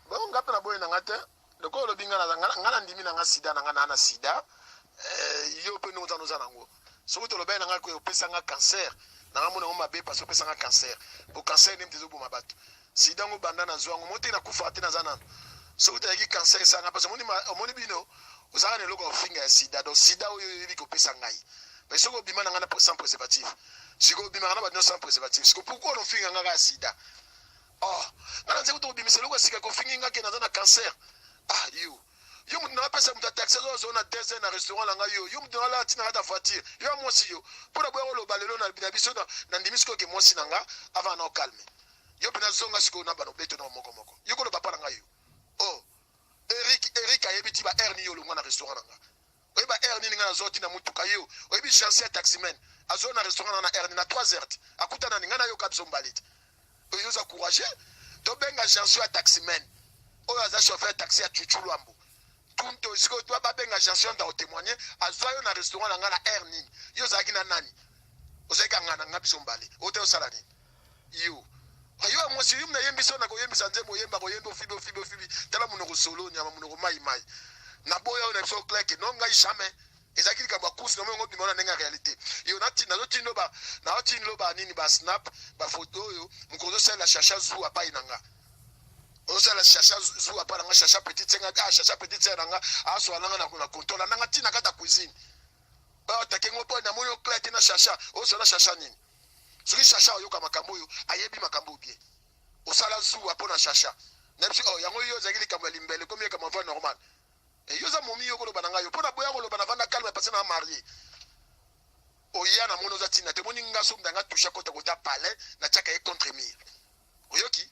donc nga mpe naboyi na nga te lokola olobi nga nga na ndimi na nga sida na nga na na sida eh, yo mpe ndenge ozana oza nango soki tolobaki na nga opesa nga cancer na nga mona yango mabe parce opesa nga cancer po cancer nde mte ezoboma bato sida yango banda nazwa yango mo te nakufa te naza nano soki tayaki cancer esanga parce omoni bino ozalaka na eloko ya kofinga ya sida donc sida oyo oyebi kopesa ngai mais soki obima na ngai na sans préservatif sikoy obimaka na bato nyonso sans préservatif sikoy pourkoi onofinga ngai kaka sida ah nga naza kutu kobimisa eloko ya sika kofingi nga ke naza na cancer ah yo yo moto na apesa moto ataxi azozala na deux na restaurant na ngai yo yo moto nalala ntina kata voiture yo ya mwasi yo mpo na boya koloba lelo na biso na ndimi sikoyo ke mwasi na nga avant na okalme yo mpe nazonga sikoyo na bana obeto na moko moko yo koloba mpa na ngai yo o oh, erik erik ayebi ti ba aire niyo olongwa na restaurant na nga oyeba heure nini ngai nazwaki na motuka yo oyebi jansi ya taximen azwa na restaurant na heure nini na 3 heures akuta nani ngai nayoka biso mbale te oyo oza courage tobenga jansi ya taximen oyo aza chauffeur ya taxi ya chuchu lwambo tunto sikoyo twa babenga jansi ya ndao témoigne azwa yo na restaurant na ngai na heure nini yo ozalaki na nani ozalaki angana ngai biso mbale ote osala nini yo ayo ya mwasi yum na yembi so na koyembisa nzembo oyemba koyembi ofibi ofibi ofibi tala monoko solo nyama monoko mai mai na boya oyo na biso kleke no ngai jamais ezalaki likambo ya kusi namo yango bima na ndenge ya réalité yo nazotindo ba nazotindo ba nini ba snap bafoto oyo mokonzi osalela chacha zu apai na nga ozala chacha zu apai na nga chacha petite senga ah chacha petite senga na nga aswala nga na kontola na nga ntina kata cuisine oyo atake ngo mpo namoni oklete na chacha ozala chacha nini soki shasha oyoka makambo oyo ayebi makambo oyo bien osala zuwa mpo na shasha nayebisi oh, yango yo ozalaki likambo ya limbele ekomi likambo ya normal eh, yo oza momi yo koloba na ngai yo mpo na boya koloba na vanda calme pase na marie oya na moni oza ntina te moni nga soki ndanga touche akota kota palais natiaka ye contre mire oyoki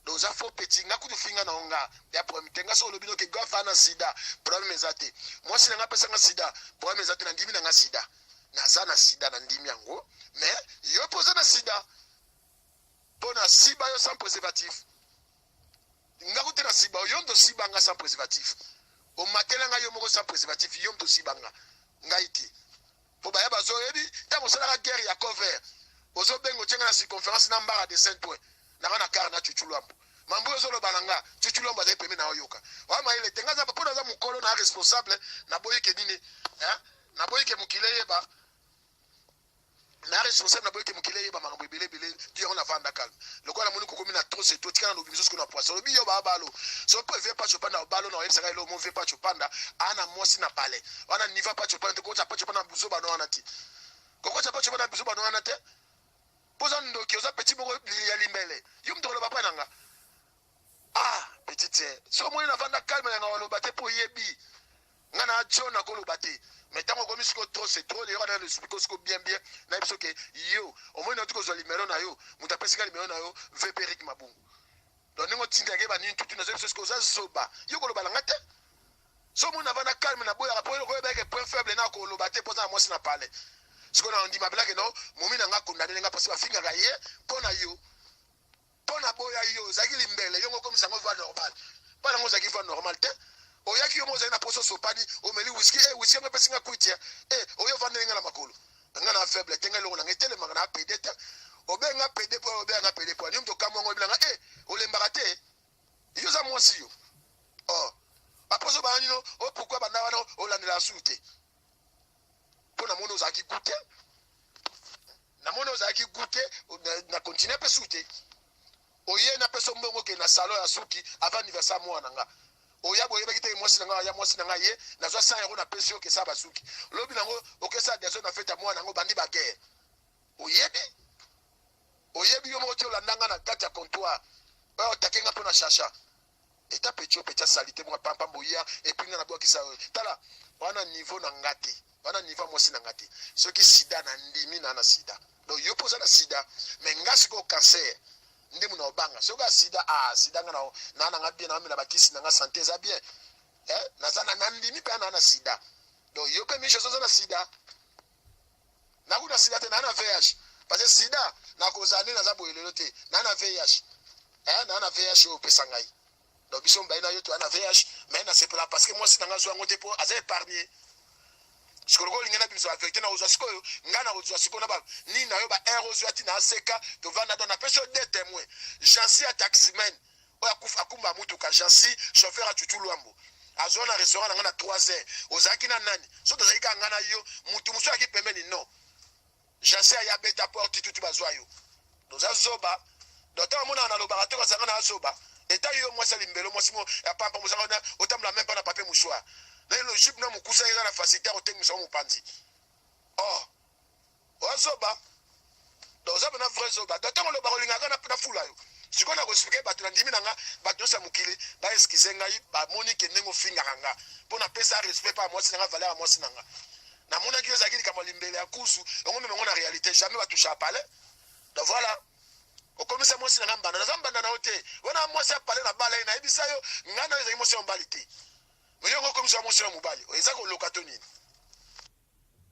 do oza faux petit nga kutu finga na nga ya problème te nga soki olobi noke gof ana sida problème eza te mwasi na nga apesa nga sida problème eza te na ndimi na nga sida naza na sida na ndimi yango mais yo mpo oza na sida mpo na siba yo sans préservatif nga kutu na siba yo mto siba nga sans préservatif omatela nga yo moko sans préservatif yo mto siba nga ngai te po baya bazo yebi tango osalaka guerre ya cover ozo benga otie nga na circonférence na mbara de saint oin nanga na kar na cucu lwambo mambo oyo ozoloba na nga cucu lwambo azali pembe na oyoka oya mayele te nga mpo naza mokolo na responsable naboyi ke nini naboyi ke mokili eyeba na responsable naboyi ke mokili eyeba makambo ebele ebele ti yango navanda calme lokola namoni kokomi na trop c'est trop tika na lobi biso sikoyo na poisson lobi yo ba balo so pe vie pacho panda balo na oyebisa ka elo mo vie pacho panda ana mwasi na palais wana niva pacho panda ko pacho panda buzo bana wana ti ko ko pacho panda buzo bana wana te poza ndoki oza petit boko ya limbele yo mto loba pa nanga ah petit so moni na vanda calme na ngalo bate po yebi nga na john akoloba te mais ntango okomi siko trop c'est trop leyoka na lospiko siko bien bien na biso ke yo omoni nauti kozwa limero na yo moto apesika limero na yo vp rik mabungu donc ndenge otindake banini tutu nazo biso siko oza zoba yo koloba na nga te so omoni na vana calme na boyaka mpo okoyebake point faible na koloba te mpoza na mwasi na pale siko na ondima belake no momi na nga kondane nga mpasi bafingaka ye mpo na yo mpo na boya yo ozalaki limbele yo mokomisa yango voix normal mpo nango ozalaki voix normal te oyaki yo mo ozali na poso osopani omeli wiski e wiski yango epesi nga kwiti e oyo ovandeli nga na makolo nga na faible te nga elongo na nga etelemaka na pede te obenga pede po obenga nga pede po ani mto kamwa ngo bilanga e olembaka te yo za mwasi yo oh aposo bananino o oh, pourquoi banda wana olandela su te mpo namoni ozalaki gute namoni ozalaki gute na continue mpe su te oye napesa mbongo okende na salon ya suki avant anniversaire mwana na nga oya boyebaki te mwasi na ngai ya mwasi na ngai ye nazwa sa yango napesi yo okesa basuki lobi nango okesa deso na fete ya mwana yango bandi bagere oyebi oyebi yo moko ti olanda nga na kati ya comptoire oyo otake nga mpo na shasha etape etiope etya salite mwa pampa boya epuis nga nabwakisa yo tala wana niveau na nga te wana niveau mwasi na nga te soki sida na ndimi na na sida donc yo mpo oza na sida me nga sikoyo cancer nde muna obanga soki ya sida a ah, sida nga na na nga bien naamela bakisi na nga sante eza bien eh, naza na ndimi mpe na na sida donc yo mpe miche oza na sida nakuta sida te naa na vih parce que sida nakozala nde naza boye lelo te naa na vih eh, naa na vih oyo opesa ngai donc biso mibali na yo toya na vih mai nasepela parce que mwasi na ngai azwa yango te mpo aza épargne sikoyo olingi na biso avecte na ozwa sikoyo ngai na kozwa sikoyo na ba nini na yo ba air ozwa ti na aseka tovanda to napesi yo de témoin jansi ya taximen oyo akufa akumba motuka jansi chauffeur ya chuchu lwambo azwa na restaurant na ngai na 3 heures ozalaki na nani so tozalaki kaka ngai na yo motu mosusu ayaki pembeni non jansi aye abeta porte tutu bazwa yo toza zoba doto amonaka nalobaka te kazanga na azoba eta yo mwasi ya limbelo mwasi mo ya pampa mozanga otambola meme mpa na papier mouchoir na logique na mokusa eza na facilité ya kotengisa yo mopanzi or oh, oza zoba donc oza pena vrai zoba donc ntango oloba kolinga kaka na fula yo sikoyo na koexplike bato na ndimi na nga bato nyonso ya mokili baeskize ngai bamoni ke ndenge ofingaka nga mpo napesa respect mpa ya mwasi na nga valeur ya mwasi na nga namonaki yo ezalaki likambo ya limbele ya kuzu yango meme yango na réalité jamais batusha palais donc voilà okomisa mwasi na nga mbanda naza mbanda na yo te wana mwasi ya palais na bala ye nayebisa yo ngai na yo ezalaki mwasi ya mobali te oyo yango okomisa mwasi ya mobali eza koloka to nini